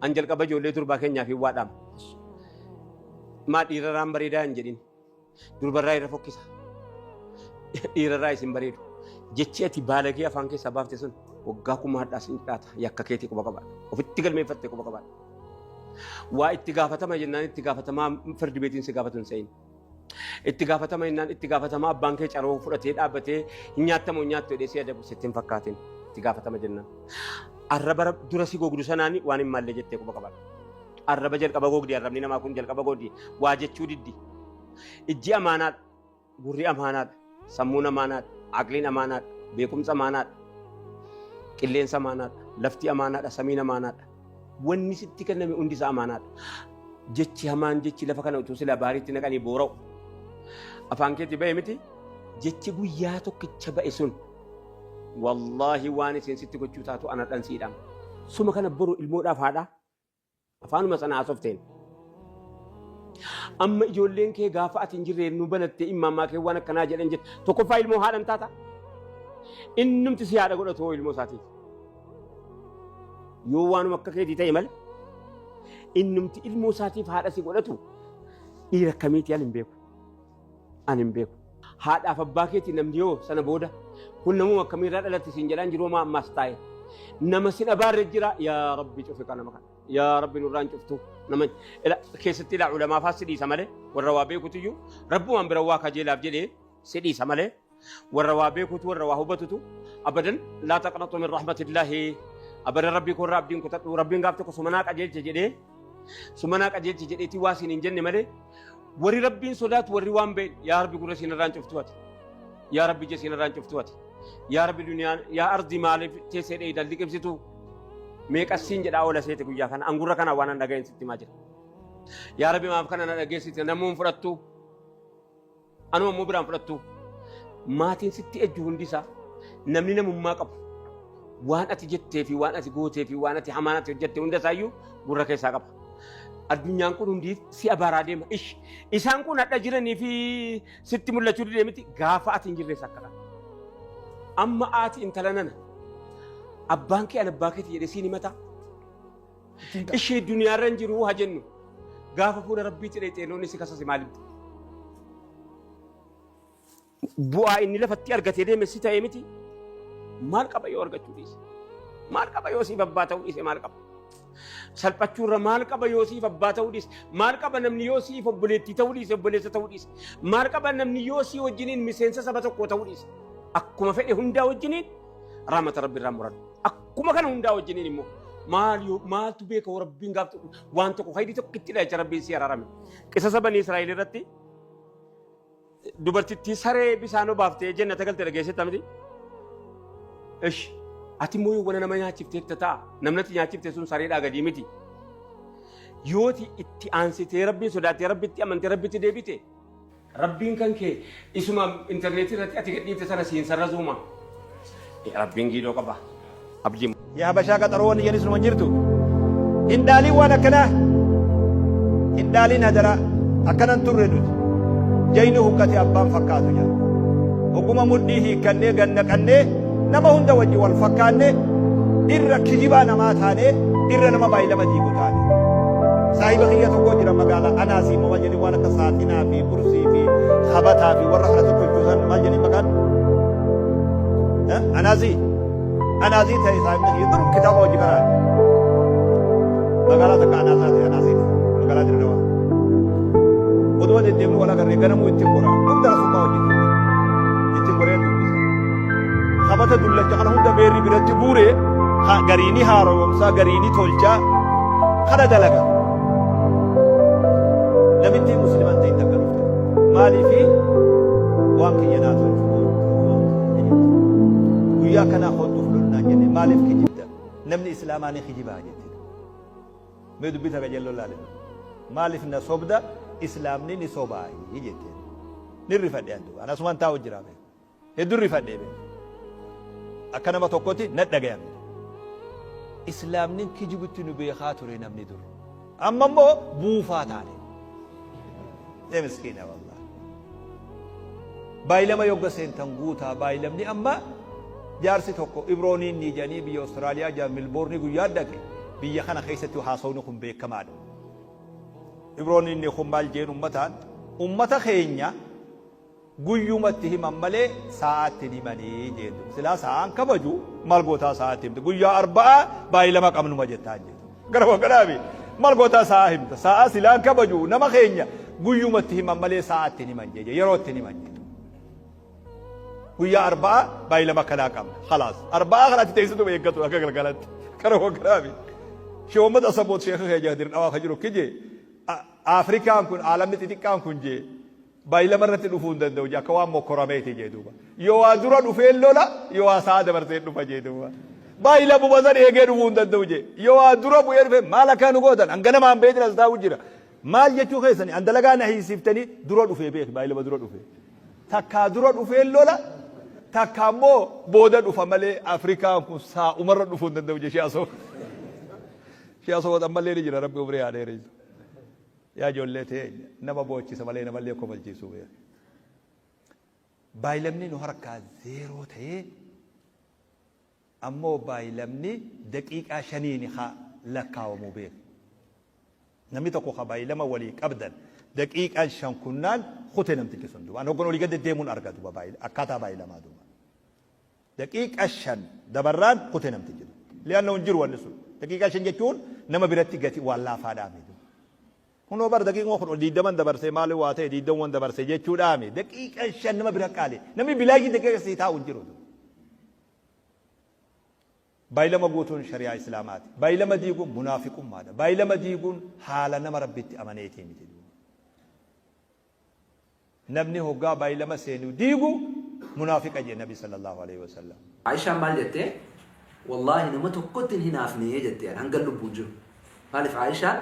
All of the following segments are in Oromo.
An jalqaba ijoollee durbaa keenyaaf hin waadhaama. Maa dhiiraraan bareedaa hin jedhin. Durbarraa irra fokkisa. Dhiirarraa isin bareedu. Jechi ati baalagee afaan keessaa baafte sun waggaa kuma hadhaa sin dhaata yakka keetii quba qabaadha. Ofitti galmeeffatte quba qabaadha. Waa itti gaafatama jennaan itti gaafatamaa firdi beetiin si gaafatu hin se'in. Itti gaafatama innaan itti gaafatama abbaan kee caroo fudhatee dhaabbatee hin nyaattamu hin nyaattu jedhee si adabu sitti hin fakkaatin itti gaafatama jennaan. Arraba rab- dura si gogdu sanaan waan hin maalle jettee quba qabadha. Arraba jalqaba gogdi arrabni namaa kun jalqaba gogdi waa jechuu diddi. Ijji amaanaadha gurri amaanaadha. Sammuun amaanaadha. Aqliin amaanaadha. Beekumsa amaanaadha. Qilleensa amaanaadha. Lafti amaanaadha. Samiin amaanaadha. Wanni sitti kenname hundi isaa amaanaadha. Jechi hamaan jechi lafa kana utuu sila baariitti naqanii boora'u. Afaan keetti ba'e miti jechi guyyaa tokkicha ba'e sun wallaahi waan isin sitti gochuu taatu anadhan siidhama. Suma kana boru ilmoodhaaf haadha Afaanuma sana haasofteen. Amma ijoolleen kee gaafa ati hin jirre nu banatte immaammaa kee waan akkanaa jedhan jette. Tokkoffaa ilmoo haadhan taata. Innumti si haadha godhatu hoo ilmoo isaatiif. Yoo waanuma akka keetii ta'e malee innumti ilmoo isaatiif haadha si godhatu dhiira akkamiitii al hin beeku. Ani hin beeku. Haadhaaf abbaa keetii namni hoo sana booda kun namuma akkamii irraa dhalatte siin jedhaan jiru homaa ammaas taa'e. Nama sin abaarre jira yaa rabbi cufi kana maqan. Yaa rabbi nurraan cuftu nama ila keessatti ila ulamaafaa si dhiisa malee warra waa beekutu iyyuu rabbumaan bira waa kajeelaaf jedhee si dhiisa malee warra waa beekutu warra waa hubatutu abadan laa taqnaxu min rahmatillahi abadan rabbii koorraa abdiin kutadhu rabbiin gaaf tokko sumanaa qajeelcha jedhee sumanaa qajeelcha jedheetii waa siin hin jenne malee warri rabbiin sodaatu warri waan ba'e yaa rabbi gurra siin irraan cuftu ati yaa rabbi ija siin irraan cuftu ati yaa rabbi duniyaa yaa ardi maaliif teessee dheeydan liqimsitu meeqassiin jedhaa oola seete guyyaa kana angurra kana waan an dhaga'een sitti himaa jira yaa rabbi maaf kana na dhageessite namuun fudhattu Anuma immoo biraan fudhattu maatiin sitti ejju hundi isaa namni namummaa qabu waan ati jettee fi waan ati gootee fi waan ati hamaan ati hojjette hunda isaayyuu gurra keessaa qaba. Addunyaan kun hundi si abaaraa deema. Ish isaan kun hadha jiranii fi sitti mul'achuu didee miti gaafa ati hin jirrees akka ta'a. Amma ati intala nana abbaan kee an abbaa keeti jedhee siin himataa? ittiin ta'a. Ishii duniyaarra hin jiru haa jennu. Gaafa fuula rabbiitti dheexee loon isi kasase maal himta? Bu'aa inni lafatti argatee deeme si ta'ee miti. Maal qaba yoo argachuu dhiise? Maal qaba yoo siif abbaa ta'uu dhiise maal qaba? Salphachuurra maal qaba yoo siif abbaa ta'uu dhiise? Maal qaba namni yoo siif obboleettii ta'uu dhiise obboleessa ta'uu dhiise? Maal qaba namni yoo sii wajjiniin miseensa saba tokkoo ta'uu dhiise? Akkuma fedhe hundaa wajjiniin raamata rabbi irraa muran. Kuma kana hundaa wajjiniin immoo maal yoo maaltu beeka hoo rabbiin gaaf tokko waan tokko haydi tokko itti dhacha rabbiin si araarame. Qisasa banii Israa'el irratti dubartittii saree bisaan obaaftee jennata galte dhageessetta miti. Ish ati immoo yoo wani nama nyaachifte itti ta'a namni ati nyaachifte sun sareedhaa gadii miti. Yooti itti aansitee rabbiin sodaattee rabbitti amantee rabbitti deebite Rabbiin kan kee isuma interneetii irratti ati gadhiifte sana siin sarrazuuma. Rabbiin giidoo qaba. Abdii. Yaa Habashaa qaxaroo wanni jedhani sunuma jirtu. Hin dhaaliin waan akkanaa. Hin dhaaliin hadaraa. Akkanan turre nuti. Jayni huqqate abbaan fakkaatu jira. Oguma mudhii hiikkannee gannaqannee Nama hunda wajji wal fakkaanne, irra kijibaa namaa taane, irra nama baay'ilama diigu taane. Saahiba kiyya tokko jira magaalaa Anaasii moo maal jedhanii waan akka saaxinaa fi kursii fi habataa fi warra kana tokko hojjetan maal jedhanii maqaan? Eh, Anaasii. Anaasii ta'e saahibni kiyya dur kitaaba hojii karaa. Magaalaa takka Anaasaa ta'e Anaasii magaalaa Dirrewaa. Oduu deddeemuu wal agarree ganamuu ittiin goraa. Hunda asummaa hojjetu. Ittiin goreen dubbisa. Sabata dullacha kana hunda beerri biratti buure gariini haaromsaa gariini tolchaa kana dalaga. Namittiin muslimaan ta'in takka dhufte. Maaliifi waan kiyya naa tolchu guyyaa kanaa hodhuuf lolnaan jenne maaliif kijibda namni islaamaa ni kijibaa jette. Mee dubbii takka jalloo laale. Maaliif na sobda islaamni ni sobaa jette. Ni rifadhe addu. Anasumaan taa'u jiraame. Heddun rifadhe be. Akka nama tokkoti na dhagayame. Islaamnin kijibutti nu beekaa ture namni dur. Amma immoo buufaa taane. Ee miskiina wallah. Baay'ilama yogga seentan guutaa baay'ilamni amma jaarsi tokko ibrooniin ni jedhanii biyya Awustiraaliyaa jaa Milboorni guyyaa dhaqe biyya kana keessatti haasawni kun beekamaadha. Ibrooniin ni kun maal jeen ummataan ummata keenya Guyyuma itti himan malee saa'aa itti hin himanii jeen duuba. Silaa saa'aan kabaju maal gootaa saa'aa itti himta. Guyyaa arba'aa baay'ee lama qabnuma jettaan jeen. Gara wagganaami maal gootaa saa'aa himta. Saa'aa silaan kabaju nama keenya guyyuma itti himan malee saa'aa itti hin himan jee yeroo itti hin himan jee. Guyyaa arba'aa baay'ee lama kanaa qabna. Khalaas arba'aa kana itti teessituma eeggatu akka galgalatti. Gara wagganaami. Shee uummata asaboot sheekha kee jaadir dhawaa ka jiru kijee. Afrikaan kun aalamni xixiqqaan kun jee. By lama irratti dhufuu hin danda'u jee akka waan mokkorameeti jee duuba. Yoo waa dura dhufeen lola yoo waa sa'a dabarsee dhufa jee duuba. By lamuma san eegee dhufuu hin danda'u jee. Yoo waa dura bu'ee dhufe maal akkaa nu gootan an ganama an beetin as taa'u jira. Maal jechuu keessani an dalagaa na hiisiftanii dura dhufee beeki by lama dura dhufee. Takkaa dura dhufeen lola takka ammoo booda dhufa malee Afrikaan kun saa'umarra dhufuu hin danda'u jee shi'asoo. Shi'asoo ammallee ni jira rabbi umrii haa dheereessu. Yaa ijoollee teenya nama boochisa malee namallee kofalchiisuu beeki. Baayilamni nu harkaa zeeroo ta'ee ammoo baayilamni daqiiqaa shaniin ka lakkaawamu beeki. Namni tokko ka baayilama walii qabdan daqiiqaan shan kunnaan kute namtichi sun duuba. An hoggan olii gad deddeemuun arga duuba akkaataa baayilamaa duuba. Daqiiqa shan dabarraan kute namtichi jedhe. Li'annahu hin jiru wanni sun. Daqiiqaa shan jechuun nama biratti gati waan laafaadhaami. Kunoo bar daqiiquma kudha ol diiddaman dabarse maali waa ta'e diiddamwan dabarse jechuudhaami. Daqiiqa shan nama bira qaali. Namni bilaashii daqiiqa sii taa'u hin jiru. Baay'ilama guutuun shari'aa Islaamaati. Baay'ilama diiguun munaafiqummaadha. Baay'ilama diiguun haala nama Rabbitti amaneetii miti. Namni hoggaa baylama seenu diigu munaafiqa jee nabi sallallaahu aleyhi wasallam. Aishaan maal jette? Wallaahi nama tokkotti hin hinaafne jette hangan lubbuun jiru. Maaliif Aishaan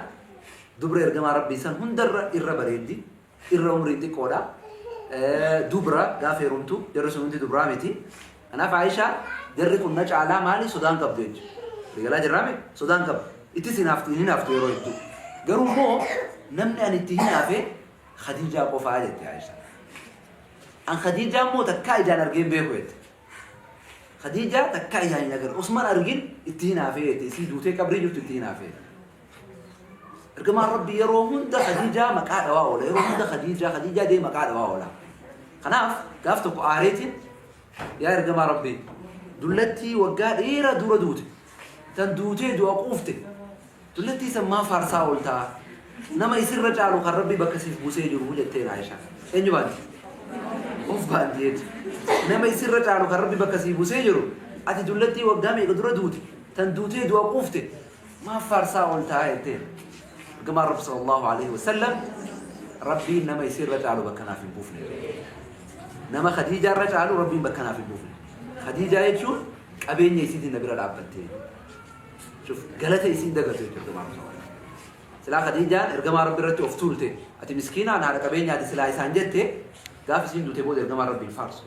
dubra ergamaa Rabbii san hundarra irra bareeddi, irra umriin xiqqoodha, dubra gaafa heerumtu jarri sun hundi dubraa miti. Kanaaf Aishaa jarri kun na caalaa maali sodaan qabdu jecha. Waliigalaa jirraame sodaan qabdu. Ittis hinaaftu hin hinaaftu yeroo hedduu. Garuu immoo namni ani itti hinaafe Khadiijaa qofaa jette Aishaa. An Khadiijaa immoo takkaa ijaan argee hin beeku jette. Khadiijaa takkaa ijaan hin agarre. Osman argin itti hinaafee jette. Isii duutee qabrii jirtu itti hinaafee. Ergamaan Rabbi yeroo hunda Khadiijaa maqaa dhawaa oola. Yeroo hunda Khadiijaa Khadiijaa dee maqaa dhawaa oola. Kanaaf gaaf tokko aareetiin yaa ergamaa Rabbi dullattii waggaa dheeraa dura duute. Tan duutee du'a quufte. Dullattii san maa faarsaa ooltaa? Nama isirra caalu kan Rabbi bakka siif buusee jiru jetteen Aisha. Eenyu baanti? Of baanti jechuudha. Nama isirra caalu kan Rabbi bakka siif buusee jiru ati dullattii waggaa meeqa dura duute? Tan duutee du'a quufte. Maaf faarsaa ooltaa jetteen. Ergamaan Rabbi sallallahu alaihi wasallam Rabbiin nama isiirra caalu bakka naaf hin buufne. Nama Khadiijaa irra caalu Rabbiin bakka naaf hin buufne. Khadiijaa jechuun qabeenya isiitiin na bira dhaabbattee. Shuf galata isiin dagatu jechuudha ergamaa Rabbi sallallahu alaihi wasallam. Silaa Khadiijaan ergamaa Rabbi irratti of tuulte. Ati miskiinaan haadha qabeenyaati silaa isaan jette gaaf isiin duute booda ergamaa Rabbiin faarsu.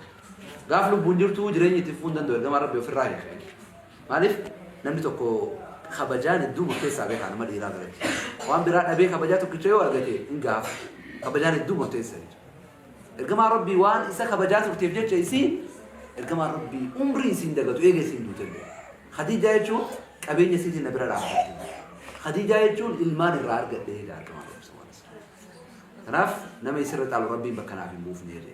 Gaaf lubbuun jirtu jireenya itti fufuu hin danda'u ergamaa Rabbi ofirraa hin Maaliif namni tokko kabajaan hedduuma keessaa beekaa nama dhiiraa biratti. Waan biraa dhabee kabajaa tokkicha yoo argate hin gaafa. Kabajaan hedduu murteessa jechuudha. Ergamaa Rabbii waan isa kabajaa turteef jecha isii ergamaa Rabbii umrii isiin dagatu eega isiin duute illee. Khadiijaa jechuun qabeenya isiitiin na bira dhaabbatte. Khadiijaa jechuun ilmaan irraa argadhe jedha ergamaa Rabbii sallallahu alaihi wasallam. Kanaaf nama isirra caalu Rabbiin bakka naaf hin buufne jedhe.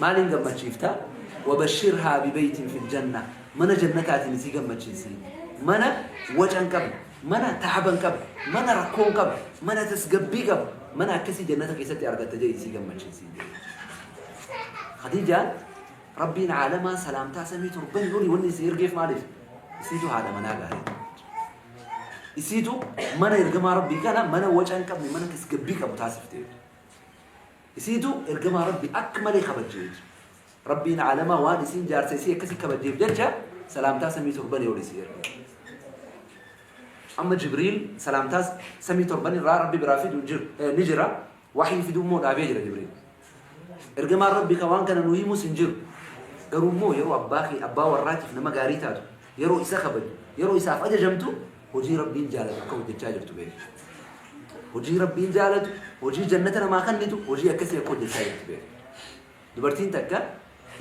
Maaliin gammachiifta? Wabashshirhaa bibeytin fil janna. Mana jannataatiin isii gammachiisi. Mana waca hin qabne, mana taaba hin qabne, mana rakkoo hin qabne, mana tasgabbii qabu, mana akkasii jannata keessatti argatta jedhi isii gammachiisi. Khadiijaan Rabbiin caalamaa salaamtaa samii torban olii wanni isii ergeef maaliif? Isiitu haadha manaa gaarii. Isiitu mana ergamaa Rabbii kana mana waca hin qabne, mana tasgabbii qabu taasifte. Isiitu ergamaa Rabbi akka malee kabajje jecha. Rabbiin aalamaa waan isiin jaarsa isii akkasii kabajjeef jecha salaamtaa samii torbanii ol isii erge. Amma Jibriil salaamtaa samii torban irraa Rabbi biraa fidu hin jiru- eh, ni jira. Waxii fiduu immoo dhaabee jira Jibriil. Ergamaan Rabbi kan waan kana nu himus hin jiru. Garuu immoo yeroo abbaa kee abbaa warraatiif nama gaarii taatu Yeroo isa kabajju, yeroo isaaf ajajamtu, hojii Rabbiin jaalatu akka hojjachaa jirtu beeki. Hojii Rabbiin jaalatu, hojii jannata namaa kannitu, hojii akkasii akka hojjachaa jirtu beeki. Dubartiin takka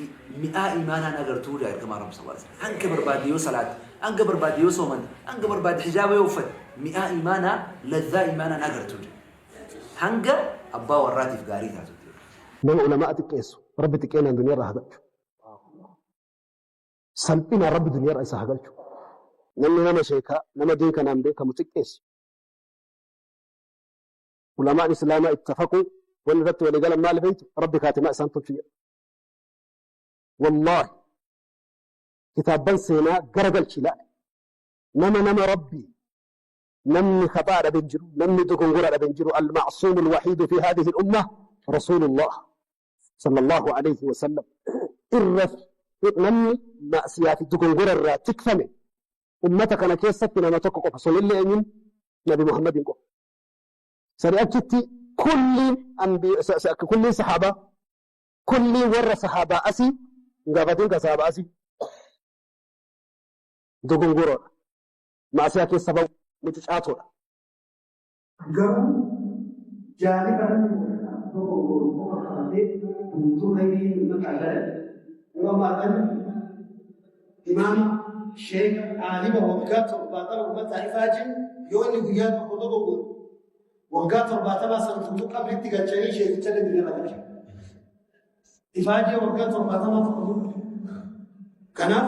i- mi'aa imaanaan agartuu jaa ergamaa Rabbi sallallahu alaihi wasallam. Hanga barbaadde yoo salaate, hanga barbaadde yoo soomante, hanga barbaadde hijaaba yoo uffate, mi'aa imaanaa, lazzaa imaanaan agartuu jaa. Hanga abbaa warraatiif gaarii taatutti. Nama ulama'a xiqqeessu. Rabbi xiqqeenaan duniyaa irraa haa galchu. Salphinaan Rabbi duniyarra isa haa galchu. Namni nama sheeka, nama diin kanaan beekamu xiqqeessu. Ulamaan Islaamaa ittafaquu wanni irratti walii galan maali beektu? Rabbi kaatimaa isaan tolchu jedha. Wallaahi kitaabban seenaa gara galchi ilaali. Nama nama Rabbi namni khaxaa dhabe hin jiru, namni dogongora dhabe hin jiru. Al-ma'suumul wahiidu fi haadhihi al-ummah Rasuulullah Sallallaahu Aleeyhi Wasallam irra namni ma'asiyaa fi dogongora irraa tikfame ummata kana keessatti nama tokko qofa sunillee eenyuun Nabi Muhammadiin qofa. Sani achitti kulliin kulliin sahaabaa kulliin warra sahaabaa asii hin gaafatiin kan sahaabaa asii dogongoroodha. Ma'asiyaa keessa ba'u mucucaatoodha. Garuu jaarri kanatti mul'ataa tokko goon qofa qabatee guutuu hayrii mul'ataa jala waan baatan imaama sheeka aaliba waggaa torbaatama ummataa ifaa jiru yoo inni guyyaa tokko tokko goon waggaa torbaatamaa san guutuu qabritti galchanii sheekicha dandina lafa ifaa jiru waggaa torbaatamaa tokko tokko kanaaf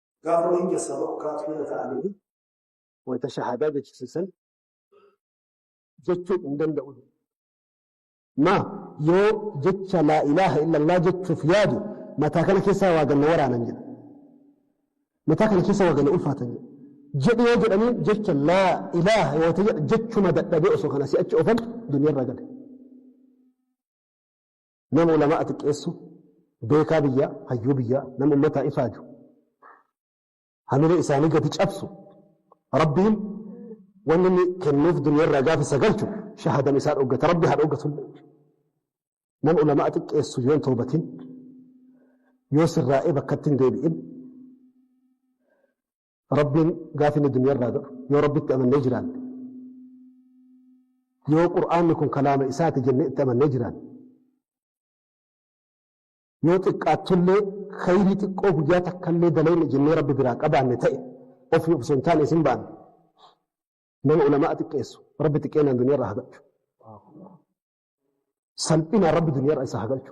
Gaafa waliin keessaa tokko kaatu irra ta'anii wanta shahaadaa jechisiisan jechuu hin danda'u. Ma yoo jecha laa ilaaha illallah jechuuf yaadu mataa kana keessaa waa ganna waraanan jedha. Mataa kana keessa waa ganna ulfaatan jedha. Jedhi yoo jedhanii jecha laa ilaaha yoo ta'e jechuma dadhabee osoo kana si'achi ofan duniyaa irraa gale. Nama ulama'a xiqqeessu, beekaa biyyaa, hayyuu biyyaa, nama ummataa ifaaju, hamilee isaanii gadi cabsu, Rabbiin wanni inni kennuuf duniyarraa gaafa isa galchu shahadan isaa dhoggata, Rabbi haa dhoggatullee. Nama ulama'a xiqqeessu yoo hin toobatin, yoo sirraa'ee bakkatti hin deebi'in, Rabbiin gaafa inni duniyaa irraa du'u yoo Rabbitti amannee jiraanne yoo Qur'aanni kun kalaama isaati jennee itti amannee jiraanne yoo xiqqaattullee khayrii xiqqoo guyyaa takkallee dalayne jennee Rabbi biraa qabaanne ta'e ofii osoo hin taane isin baanne nama ulama'a xiqqeessu Rabbi xiqqeenaan duniyaa irraa hagalchu salphinaan Rabbi duniyaa irraa isa hagalchu